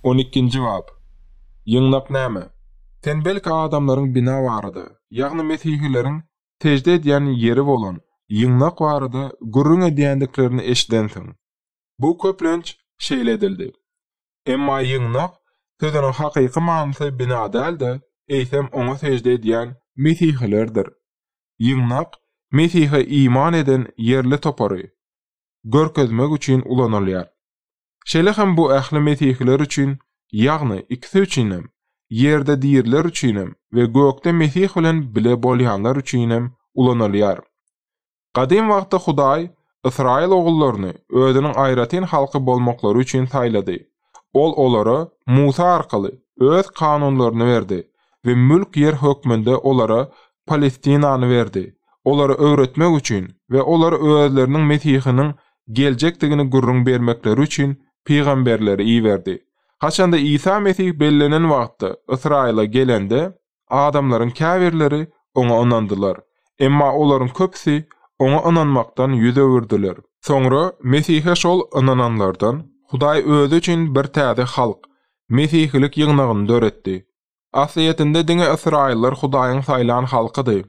On ikinji bap. Ýygnak näme? Sen belki adamlaryň bina barada, ýagny mesihileriň sežde edýän ýeri bolan ýygnak barada gürrüň edýändiklerini eşidensiň. Bu köplenç şeýle edildi. Emma ýygnak sözüniň hakyky manysy bina däl-de, eýsem oňa sežde edýän mesihilerdir. Ýygnak Mesihe iman eden ýerli topary, görkezmek üçin ulanylýar. Şeýle hem bu ähli mesihiler üçin, ýagny ikisi üçinem, ýerde diriler üçinem we gökde Mesih bilen bile bolýanlar üçinem ulanylýar. Gadym wagtda Hudaý ysraýyl ogullaryny Özüniň aýratyn halky bolmaklary üçin saýlady Ol olara Musa arkaly Öz kanunlaryny berdi we mülk ýer hökmünde olara Palestinany berdi, olara öwretmek üçin we olara özleriniň Mesihiniň geljekdigini gürrüň bermekleri üçin pygamberleri iberdi. Haçanda Isa Mesih bellenen wagtda Ysraýyla gelende, Adamlaryň käbirleri Oňa ynandylar. Emma olaryň köpüsi Oňa ynanmakdan ýüz öwürdiler. Soňra Mesihe şol ynananlardan Hudaý Özi üçin bir täze halk, mesihilik ýygnagyny döretdi. Aslyýetinde diňe ysraýyllar Hudaýyň saýlan halkydy.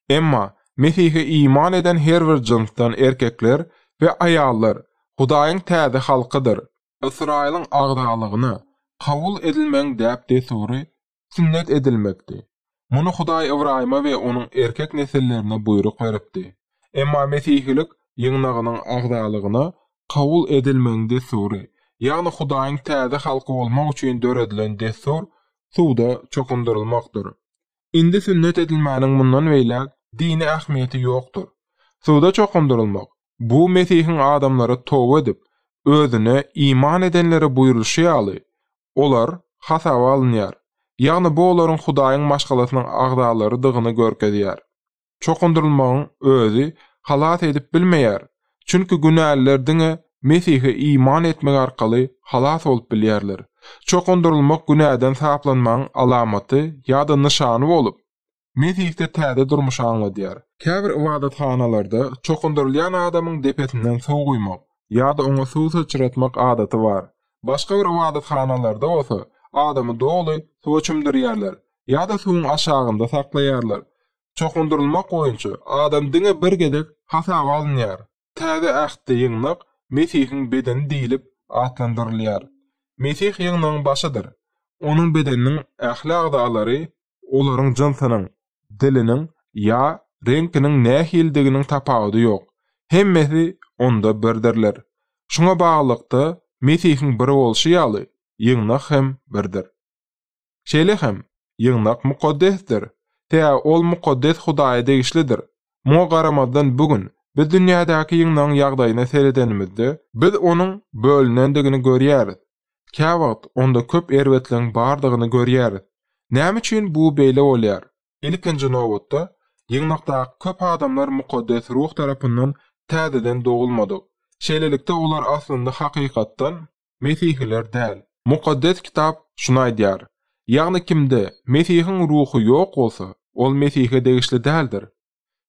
Emma Mesihe iman eden her bir jynsdan erkekler we aýallar Hudaýyň täze halkydyr. Ysraýylyň agzalygyna kabul edilmegiň däp-dessury Sünnet edilmekdi. Muny Hudaý Ybraýyma we onuň erkek nesillerine buýruk beripdi. Emma Mesihilik ýygnagynyň agzalygyna kabul edilmegiň dessury, ýagny Hudaýyň täze halky bolmak üçin döredilen dessur suwda çokundyrylmakdyr. Indi sünnet edilmäniň mundan beýläk dini ähmiýeti ýokdur. Suwda çokundyrylmak, Bu Mesihiň adamlara toba edip, Özüne iman edenlere buýrulyşy ýaly, olar hasaba alynýar, ýagny bu olaryň Hudaýyň maşgalasynyň agzalarydygyny görkezýär. Çokundyrylmagyň özi halas edip bilmeýär, çünki günäliler diňe Mesihe iman etmek arkaly halas bolup bilýärler. Çokundyrylmak günäden saplanmagyň alamaty ýa-da nyşany bolup, Mesihde täze durmuşy aňladýar. Käbir ybadathanalarda çokundyrylýan adamyň depesinden suw guýmak ýa-da oňa suw syçratmak adaty bar. Başga bir ybadathanalarda bolsa adamy doly suwa çümdürýärler ýa-da suwuň aşagynda saklaýarlar. Çokundyrylmak boýunça adam diňe bir gezek hasaba alynýar. Täze Ähtde ýygnak Mesihiň bedeni diýlip atlandyrylýar. Mesih ýygnagyň başydyr. Onuň bedeniniň ähli agzalary Olaryň jynsynyň, diliniň ýa reňkiniň nähilidiginiň tapawudy ýok, hemmesi onda birdirler. Şuňa baglylykda, Mesihiň bir bolşy ýaly, ýygnak hem birdir. Şeýle hem, ýygnak mukaddesdir, tä ol mukaddes Hudaýa degişlidir. Muňa garamazdan bu gün biz dünýädäki ýygnagyň ýagdaýyna seredenimizde, biz onuň bölünendigini görýäris, Käwagt onda köp erbetligiň bardygyny görýäris. Näme üçin bu beýle bolýar? Ilkinji nobatda, ýygnakdaky köp adamlar mukaddes ruh tarapyndan täzeden dogulmadyk. Şeýlelikde, olar aslynda hakykatdan mesihiler däl. Mukaddes Kitap şuny aýdýar, Ýagny kimde Mesihiň Ruhy ýok bolsa, ol Mesihe degişli däldir.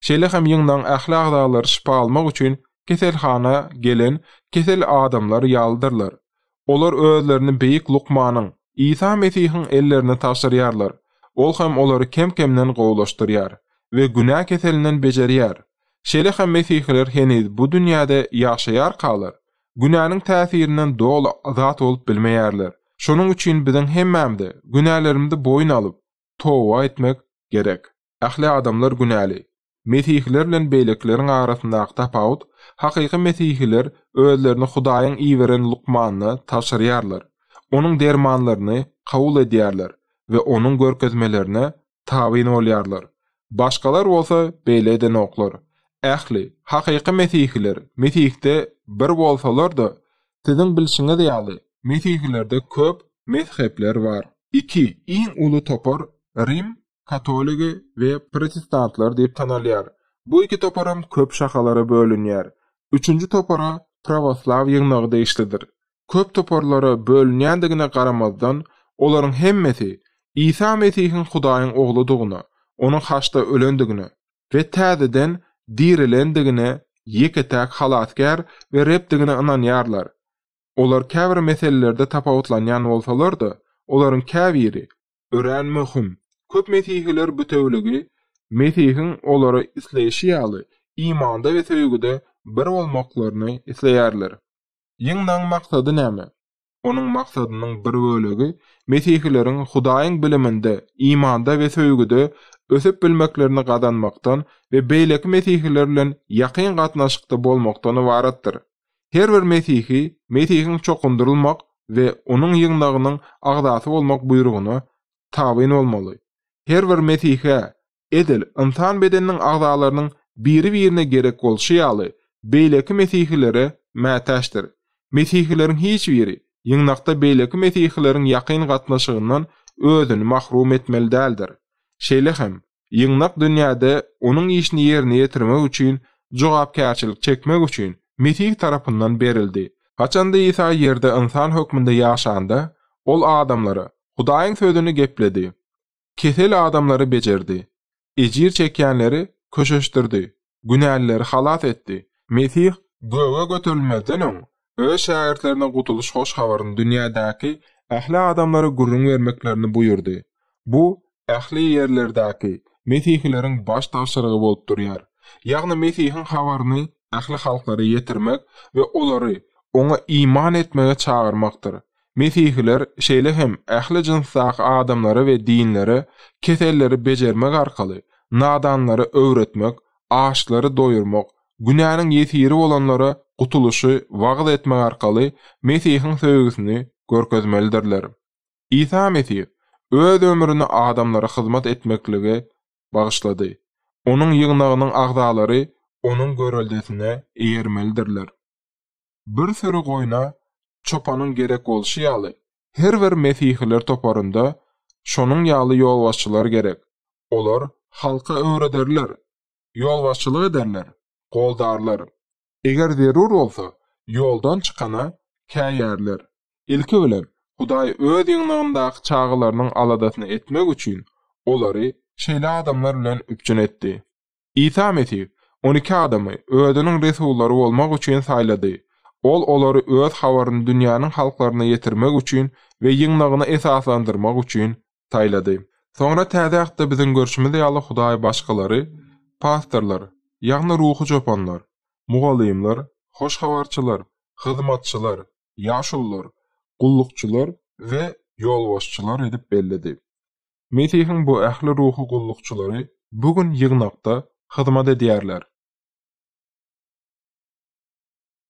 Şeýle hem ýygnagyň ähli agzalary şypa almak üçin keselhana gelen kesel adamlar ýalydyrlar. Olar özlerini beýik lukmanyň, Isa Mesihiň ellerine tabşyrýarlar, ol hem olary kem-kemden gowulaşdyrýar we günä keselinden bejerýär. Şeýle hem mesihiler heniz bu dünýäde ýaşaýarkalar, günäniň täsirinden doly azat bolup bilmeýärler. Şonuň üçin biziň hemmämize günälerimizi boýun alyp, toba etmek gerek. Ähli adamlar günäli. Mesihiler bilen beýlekileriň arasyndaky tapawut, hakyky mesihiler özlerini Hudaýyň iberen lukmanyna tabşyrýarlar, onuň dermanlaryny kabul edýärler we onuň görkezmelerine tabyn bolýarlar. Başgalar bolsa beýle edenoklar. Ähli, hakyky mesihiler Mesihde bir bolsalar-da, siziň bilşiňiz ýaly, mesihilerde köp mezhepler bar. Iki iň uly topar Rim katoligi we protestantlar diýip tanalýar. Bu iki toparam köp şahalara bölünýär. Üçünji topara prawoslaw ýygnagy degişlidir. Köp toparlara bölünýändigine garamazdan, olaryň hemmesi Isa Mesihiň Hudaýyň Ogludygyna, onuň haçda ölendigine we täzeden dirilendigine, ýeke-täk Halasgär we Rebdigine ynanýarlar. Olar käbir meselelerde tapawutlanýan bolsalar-da, olaryň käbiri Örän möhüm, köp mesihiler bütewligi, Mesihiň olara isleýşi ýaly, imanda we söýgüde bir bolmaklaryny isleýärler. Ýygnagyň maksady näme? Onuň maksadynyň bir bölegi mesihileriň Hudaýyň biliminde, imanda we söýgüde ösüp bilmeklerini gazanmakdan we beýleki mesihiler bilen ýakyn gatnaşykda bolmakdan ybaratdyr. Her bir mesihi Mesihiň çokundyrylmak we Onuň ýygnagynyň agzasy bolmak buýrugyna tabyn bolmaly. Her bir mesihä, edil ynsan bedeniniň agzalarynyň biri-birine gerek bolşy ýaly, beýleki mesihilere mätäçdir. Mesihileriň hiç biri ýygnakda beýleki mesihileriň ýakyn gatnaşygyndan özüni mahrum etmeli däldir. Şeýle hem, Ýygnak dünýäde Onuň işini ýerine ýetirmek üçin jogapkärçilik çekmek üçin Mesih tarapyndan berildi. Haçanda Isa ýerde ynsan hökmünde ýaşanda, Ol adamlara Hudaýyň sözüni gepledi. Kesel adamlary bejerdi. Ejir çekýänleri köşeşdirdi. günälileri halas etdi. Mesih göge göterilmezden öň, öz şägirtlerine gutulyş hoş habaryny dünýädäki ähli adamlara gürrüň bermeklerini buýurdy. Bu ähli ýerlerdäki mesihileriň baş tabşyrygy bolup durýar. Ýagny Mesihiň habaryny ähli halklara ýetirmek we olary Oňa iman etmäge çagyrmakdyr. Mesihiler şeýle hem ähli jynsdaky adamlara we dinlere keselleri bejermek arkaly, nadanlara öwretmek, açlary doýurmak, günäniň ýesiri bolanlara gutulyşy wagyz etmek arkaly Mesihiň söýgüsini görkezmelidirler. Isa Mesih öz ömrüni adamlara hyzmat etmeklige bagyşlady. Onuň ýygnagynyň agzalary Onuň göreldesine eýermelidirler. Bir süri goýna çopanyň gerek bolşy ýaly, her bir Mesihiler toparynda şonuň ýaly ýolbaşçylar gerek. Olar halka öwrederler, ýolbaşçylyk ederler, goldarlar. Eger zerur bolsa, ýoldan çykana käýärler. Ilki bilen, Hudaý Öz ýygnagyndaky çagalarynyň aladasyny etmek üçin, olary şeýle adamlar bilen üpjün etdi. Isa Mesih on iki adamy Özüniň resullary bolmak üçin saýlady. Ol olary Öz habaryny dünýäniň halklaryna ýetirmek üçin we ýygnagyny esaslandyrmak üçin saýlady. Soňra Täze Aýtda biziň görşümiz ýaly Hudaý başgalary, pastorlar, ýagny ruhy çopanlar, mugallymlar, hoş habarçylar, hyzmatçylar, ýaşulular, gullukçylar we ýolbaşçylar edip belledi. Mesihiň bu ähli ruhy gullukçylary bu gün ýygnakda hyzmat edýärler.